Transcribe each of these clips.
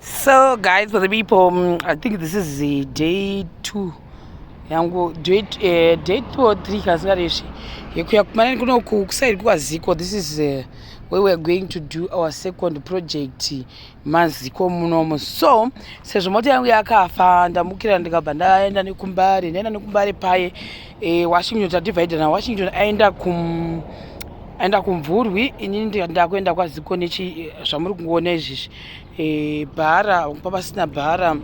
so guys for the people um, i think this is the day two yangu day eh, two or three kasingaresvi yekuya kumanani kunoku kusairi kwaziko this is uh, where weare going to do our second project maziko munomo so sezvo mota yangu yakafa ndamukira ndikabva ndaenda nekumbare ndaenda nekumbare paye eh, washington tadivided na washington aenda kum aenda kumvurwi inini ndakuenda kwaziko nechi zvamuri kungoona izvizvi e, bhara pa pasina bhara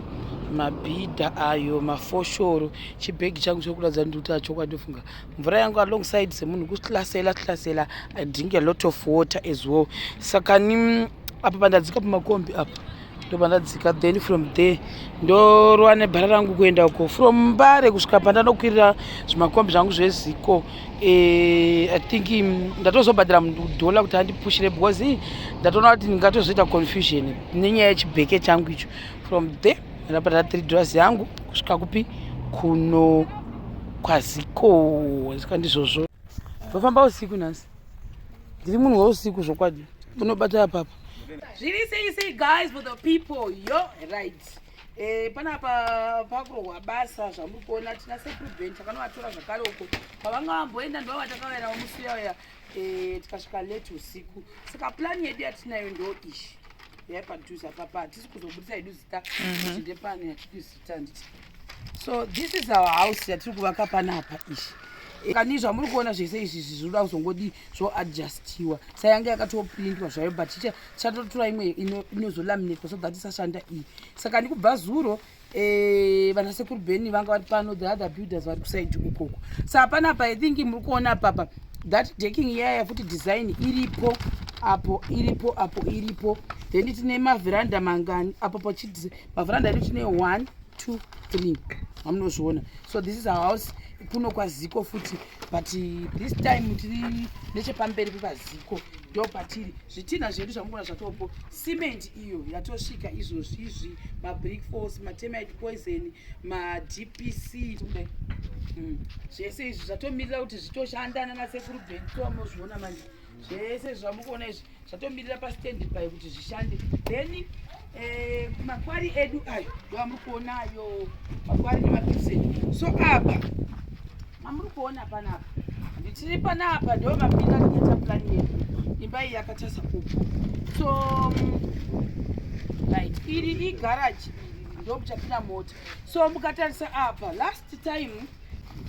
mabhidha ayo mafoshoro chibhegi changu chiri kuratidza kuti ndikuti achokwadi ndofunga mvura yangu alongside semunhu kuhlasela hlasela i drink a lot of water as well saka ni apa pandadzika pamakombi apa ndopandadzika then from there ndorova nebhara rangu kuenda uko from mbare kusvika pandanokwirira zvimakombi zvangu zveziko Eh, i think mm, ndatozobhadhira mudhola kuti andipushire because eh, ndatoona kuti ndingatozoita confusion nenyaya yechibheke changu icho from there ndabhadhira three dollars yangu kusvika kupi kuno kwaziko zika ndizvozvo ndofamba usiku nhasi ndiri munhu weusiku zvokwadi unobatira papa zviri sei sei guys for the people yo right Eh, panapa pakurohwa basa zvamuri kuona tina seprevent takanovatora zvakare uko pavanga vamboenda ndova vatakavaerawo musi uya uya eh, tikasvika late usiku saka plani yedu yatinayo ndo ishi yaipadhuze apapa hatisi kuzobudisa yedu zita mhm. tinde pano yatidi zita nditi so this is our house yatiri kuvaka panapa ishi eh, kani zvamuri kuona zvese izvi zvizvinoda kuzongodii zvoadjustiwa sayange yakatoprintwa zvayo but chatotora imwe inozolaminetwa so that isashanda iyi saka ndikubva zuro eh, vana sekuru beni vanga vari pano the other builders vari kusaidi ukoko sa hapana apa i think muri kuona apapa that deking iyaya futi design iripo apo iripo apo iripo then tine mavheranda mangani apo pachiti mavheranda edu tine one two three amunozviona so this is our house kuno kwaziko futi but this time tiri nechepamberi pepaziko ndo patiri zvitinha zvedu zvamukuona zvatopo cement iyo yatosvika izvozvi izvi mabrick force matemite poison madpc tikudai hmm. zvese izvi zvatomirira kuti zvitoshanda nanasekuru bentomozviona manje zvese zvamukuona izvi zvatomirira pastand by kuti zvishande then eh, makwari edu ayo ndovamuri kuona ayo makwari nemapipsed so apa mamuri kuona panapa nditiri panapa ndo mapinda tikaita plan yedu imba iyi yakatasa kupo so mm, right iri igaraji ndokuchapinda mota so mukatarisa apa last time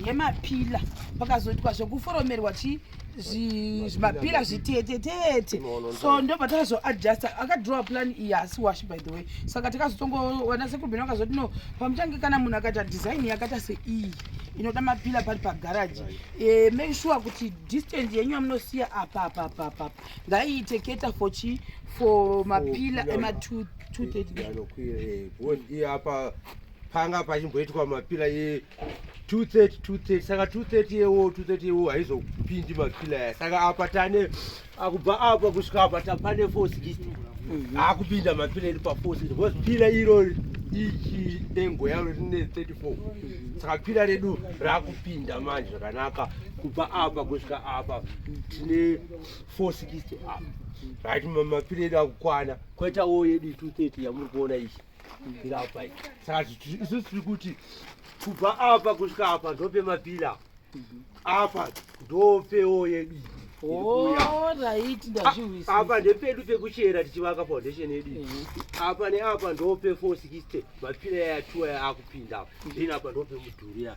yemapila pakazoitwa zvekuforomerwa chi zvimapira zvitetetete so ndobva takazoadjusta akadrowa plan iyi haasi wash by the way saka takazotongowana sekurubeni vakazoti no pamutange kana munhu akaita design yakaita seiyi inoda mapila pari pagaraji eh, make sure kuti distance yenyu yamunosiya apa apa apa apa ngaiite keta for chi for mapila ema 230 eh, eh, apa panga pachimboitwa mapila ye 230 230 saka 230 yewo 230 yewo haizopindi mapila ya saka apa tane akubva apa kusvika apa tapane force list mhm. akupinda mapila iri paforce list because pila iro ichi dengo yaro rine 34 saka pila redu rakupinda manje zvakanaka kubva apa kusvika apa tine force list apa right mapila edu akukwana koitawo yedu 230 yamuri kuona ichi mapira apa saka isusu tiri kuti kubva apa kusvika apa ndope mapira apa ndopewo yedu apa ndepedu pekuchera tichivaka foundation yedu mhm. apa neapa ndope 460 mapira yayatuwa yaakupinda then apa ndope mudhurira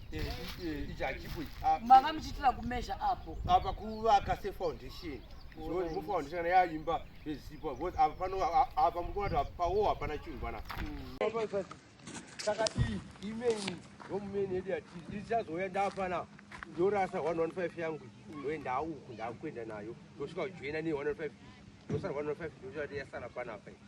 ichi hachipo ichi ah, mava muchiitira kumezha apo apa kuvaka sefoundation mufoundation yaimba zvezipo bcause apa pano apa mukuona kuti apawo hapana chinhu pana hmm. saka iyi imeni yomumeni yedu yati ichazouya ndapana ndorasa 115 yangu ndoe ndauku ndakuenda nayo ndosvika kujoina ne 115 ndosara 115 ndochati yasara panapa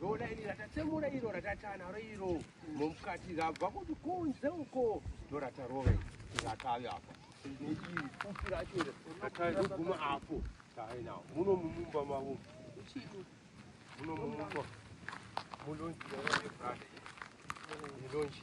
Dona iri ratatsemura iro ratatana ro iro mumukati rabva kuti kunze uko ndoratarove rakave apa neiri futi racho iri rataizoguma apo tainawo muno mumumba mavo uchii muno mumumba mulonji yaaibrada ilonji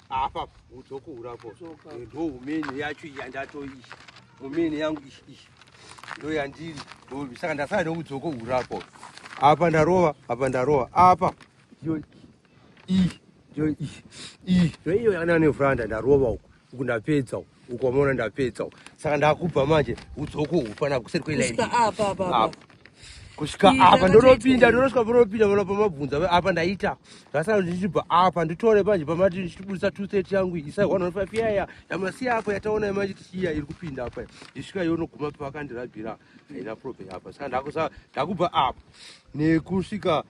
apa udzokura ko ndo umene yacho iya ndatoiyi umene yangu iyi ndo yandiri dobi saka ndasara neudzoko urako apa ndarova apa ndarova apa iyo iyi iyo iyi iyo iyo yananevuranda ndarova uku uku ndapedza uku uko wamaona ndapedza uko saka ndakubva manje udzoko hufana kuseri kwelaini kusvika apa ndonopinda ndonosvika panopinda vana pamabvunza apa ndaita zvasara ndichibva apa nditore manje pamati ndichibudisa two thirty yangu isa one one five yaya yamasiya apa yataona manje tichiya iri kupinda apa isvika yonoguma pakandirabira haina problem apa saka ndakusa ndakubva apa nekusvika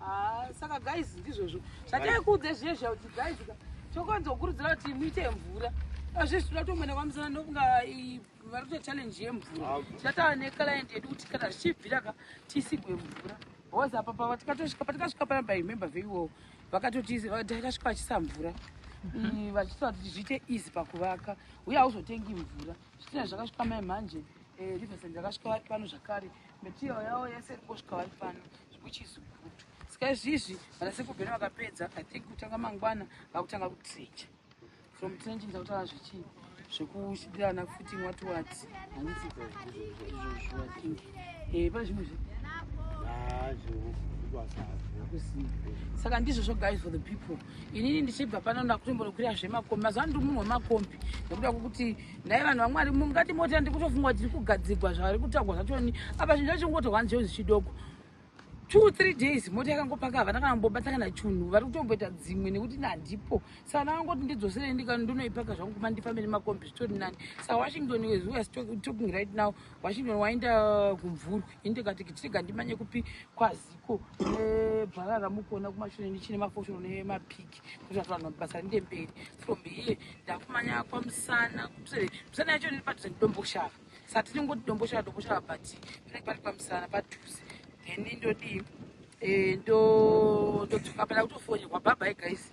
Ah, saka guys ndizvozvo zvataikuudza zviye zviya kuti guys tokonza kukurudzira kuti muite mvura azvizvi toda kuti umwene kwamusana nokunga vari kuita challenge yemvura ah. tichataura neclient yedu kuti kana zvichibvira ka tisigwe mvura bcause apa pava tikatosvika patikasvika pana by member veiwowo vakatotitakasvika vachisa mvura mm, vachitaura kuti zviite easy pakuvaka uye hauzotengi mvura zvitina zvakasvika mai manje eh, riversend yakasvika vari pano zvakare material yavo yese iri kusvika vari pano which is good saka izvizvi vana sekubheni vakapedza i think kutanga mangwana vakutanga kutrenja from trenjing takutaura zvichii zvekuchidirana futi wati wati handiti izvozvo think e pane zvimwe zve saka ndizvozvo guys for the people inini ndichibva pano ndakutombonokwira zvemakombi mazuva ndiri munhu wemakombi ndakuda kukuti nhai vanhu vamwari mungati moti andi kutofunga tiri kugadzigwa zvavari kutagwa zvachoni apa zvinhu zvachingotohwani zvinhu zvichidoko two three days mota yakangopaka havana kana mbobata kana chunhu vari kutomboita dzimwe nekuti nandipo saka ndakangoti ndidzoserei ndikani ndonoipaka zvangu kuma ndifambe nemakombi zvitori nani saka washington as we are talking right now washington waenda kumvurwi ini ndikati kitirega ndimanye kupi kwaziko nebharara mukuona kumashure ndichine mafoshoro nemapiki kuti vanhu vanhu basa rinde mberi from here ndakumanya kwa musana musana yacho ndiri padhuze ndidomboshava sa tiri ngoti domboshava domboshava but pane pari pamusana padhuze then ndodii eh, ndodzoka pana kutofonirwa bhabhai guys